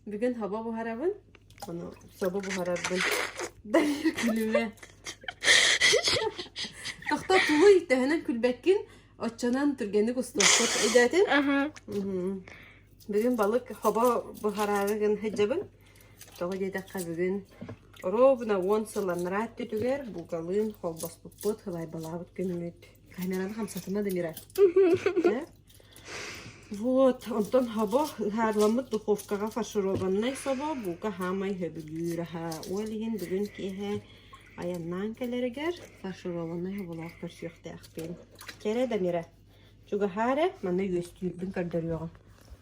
Бүгүн хоба буһарабын, ону собо буһарарбын. Дарья күлүмэ. Тохто тулуй төһөнөн күлбэккин, оччонон түргэнник устуоххут өйдөөтүн. Бүгүн балык хоба буһараары гын хыддабын. Тоҕо диэтэххэ бүгүн оробуна уон сылланнараат түтүгэр буукалыын холбоспуппут, хылайбалаабыт күммүт. Камераны хамсатыма да мира. Вот, онтон собо, ыһаарыламмыт духовкаҕа фаршированнай собо, буука хаамай сөбүлүүр аһа. Ол иһин бүгүн киэһэ айаннаан кэлэригэр фаршированнай соболоох көрсүөхтээхпин. Кэрэ да мирэ, чугаһаары манна үөстүүрбүн көрдөрүөҕүм.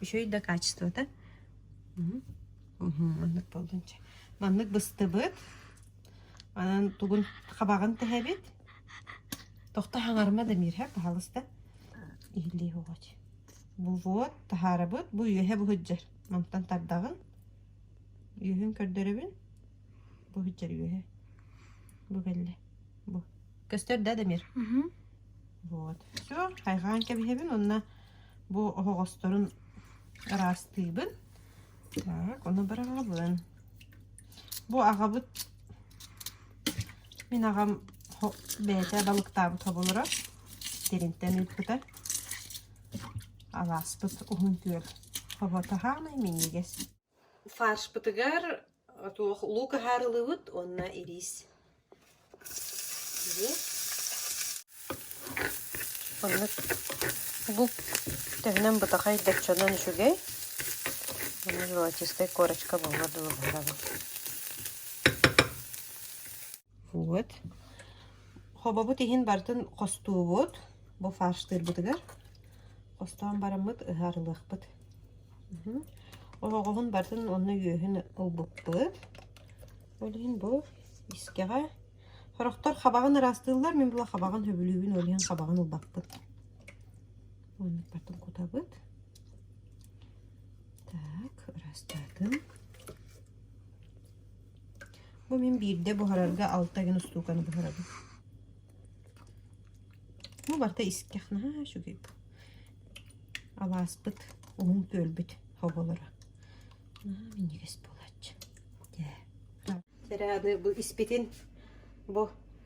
Үчүгэй да качествота. Мхм. Мхм, маннык болдунча. Маннык быстыбыт Онон тугун хабаҕын тэһэбит, тохто хаҥарыма да миирһэ, паһалыста иһиллиэх угач. Бувуот, таһаарабыт, бу үөһэ буһуддьар. Мантан тардаҕын, үөһүн көрдөрөбүн, буһуддьар үөһэ. Бу бэллэ, бу. Көстөр да Дамир? Вот. Всё, хайҕаан кэбиһэбин уонна бу оһоҕосторун ыраастыыбын. Так, ону быраҕабын. Бу аҕабыт мин аҕам хо- бэйэтэ балыктаабыт хоболоро тиринтэн ыыппыта. Алааспыт уһун күөл хобото хаамай минньигэс. Фаршпытыгар Туох луук аһаарылыыбыт уонна ириис. Онно бу төһөнөн бытахай доччонон үчүгэй. Аны золотистая корочка буолар дылы барабын. Вот. Хобобут иһин барытын хостуубут бу фарштыырбытыгар. Хостоон бараммыт ыһаарылыахпыт. Оһоҕоһун барытын онно үөһүн ылбыппыт. Ол иһин бу искэҕэ сорохтор хабаҕын ыраастыыллар, мин була хабаҕын сөбүлүүбүн, ол иһин хабаҕын ылбаппыт. Оннук бартын кутабыт. Так, ыраастаатым. Бу мин биирдэ буһарарга алта күн устууканы буһарабын. Ну барыта искэх наһаа үчүгэй. Алааспыт, уһун күөлбүт оболоро наһаа минньигэс буолааччы. Дьэ. Сэрэ аны бу испитин бу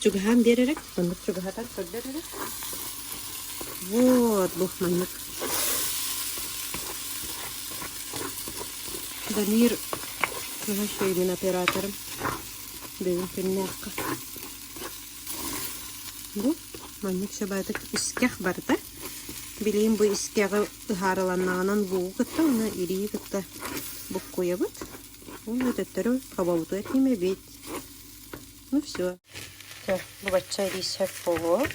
Чугаһаан биэр эрэ, маннык чугаһатан көрдөр эрэ. Вот бу маннык. Дамир наһаа үчүгэйдин операторым. Бүгүн күннээххэ. Бу маннык сабаатык искэх барда. Билейин бу искэҕи ыһаарыланнаҕынан буугу кытта уна ирии кытта буккуйабыт. Уна төттөрү хобобуту этиме бит. Ну все. Все, бачча рисек булу.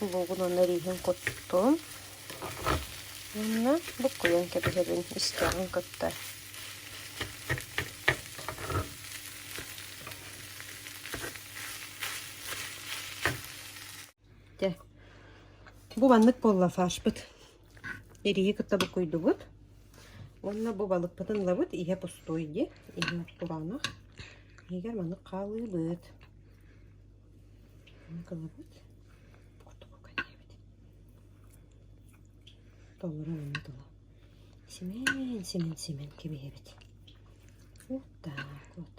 Булугун онно риһин куттум. Манна буккуйан кэбиһэбин истэҕин кытта. Дэ. Бу маннык буолла фашпыт. Эрийи кытта букуйдубут уонна бу балыкпытын ылабыт ийэ пустуой диэ, ийэ устураанах. Иһигэр маннык хаалыыбыт. Ылабыт. Курдук кэтиэбит. Толору манна тула. Симэн, симэн, симэн кэбиһэбит. Вот так вот.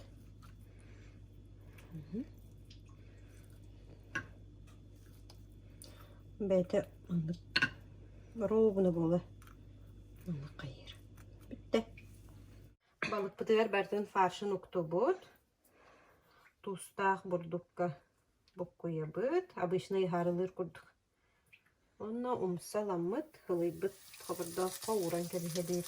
Бэйэтэ маннык боруобуна буолар маннык хайыыр бүттэ балыкпытыгар барытын фаршын уктубут туустаах бурдукка буккуйабыт обычно иһаарылыыр курдук онно умса-ламмыт ылыйбыт хобордооххо ууран кэбиһэбит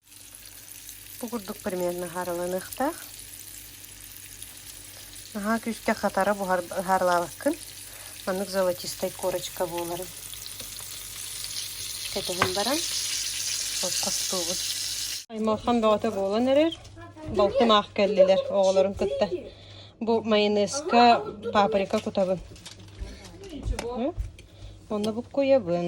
Бу курдук предмет наһаарыланыахтаах. Наһаа күүскэ хатара буһаарлаабаккын. Маннык золотистай корочка буоларын кэтэһэн баран остуубут. Аймалхан бөҕөтө буолан эрэр. Балтым аах кэллилэр оҕолорун кытта. Бу майонезка, паприка кутабын. Онно буккуйабын.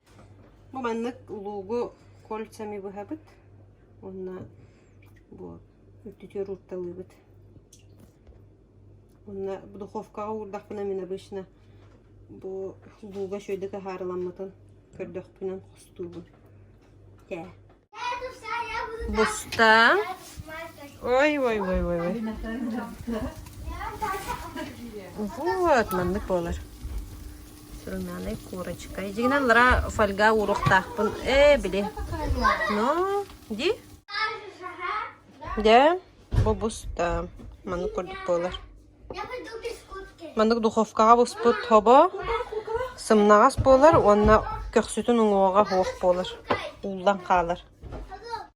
Бу маннык улуугу кольцами быһабыт уонна бу үрдүтү уруурталыыбыт. Уонна бу духовкаҕа уурдахпына мин обычно бу улууга үчүгэйдик аһаарыламмытын көрдөхпүнэн хостуубун. Тээ Бустаа ой-ой-ой-ой Вот маннык буолар сурунаанай курочка дьиҥинэн аллараа фольга ууруохтаахпын ээ били но ди дэ бу бустаа маннык курдук буолар Маннык духовкаҕа буспут хобо сымнаҕас буолар уонна көхсүтүн уҥуоҕа суох буолар, ууллан хаалар